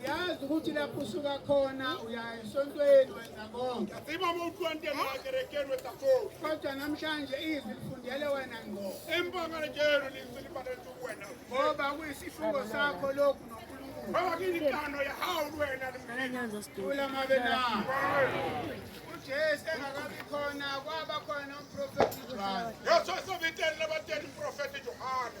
uyazi ukuthi lapho usuka khona uya esontweni wenza konke kodwa namhlanje izwi lifundele wena ngo ngoba kuyisifungo sakho lokhu nonkulunkululamabena ujesu engakabi khona kwaba khona umprofethi johane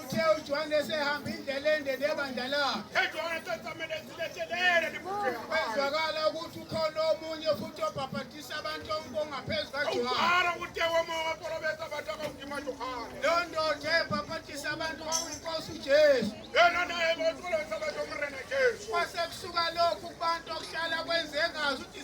Uthe uJohane sehamba indlela ende nebandla lakhe. Ejohane tsatamele ziletelele libukhulu. Kwezwakala ukuthi ukhona omunye futhi obhabhatisa abantu ongaphezu kaJohane. Awubara ukuthi woma waporobeta abantu akawukima Johane. Leyo ndoda ebhabhatisa abantu kwakuyinkosi uJesu. Yena naye bosolobeta abantu omrena Jesu. Kwase kusuka lokhu kubantu okuhlala kwenze engazi ukuthi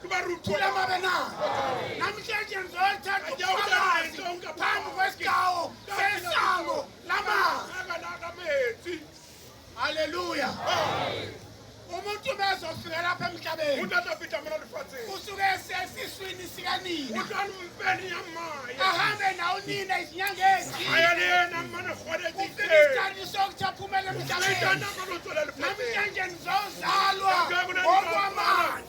Kubaruthula mabe na. Namhlanje ngizothatha ubufakazi phambi kwesigawo sesango lama. Haleluya. Umuntu ubezofika lapha emhlabeni. Umuntu azofika mina lifathi. Usuke sesiswini sikanina. Uhlala umfeni yamaye. Ahambe nawo nina izinyanga ezithile. Ayalena mana khona ethi. Ufike isikhathi sokuthi aphumele emhlabeni. Namhlanje ngizozalwa. Ngokwamanje.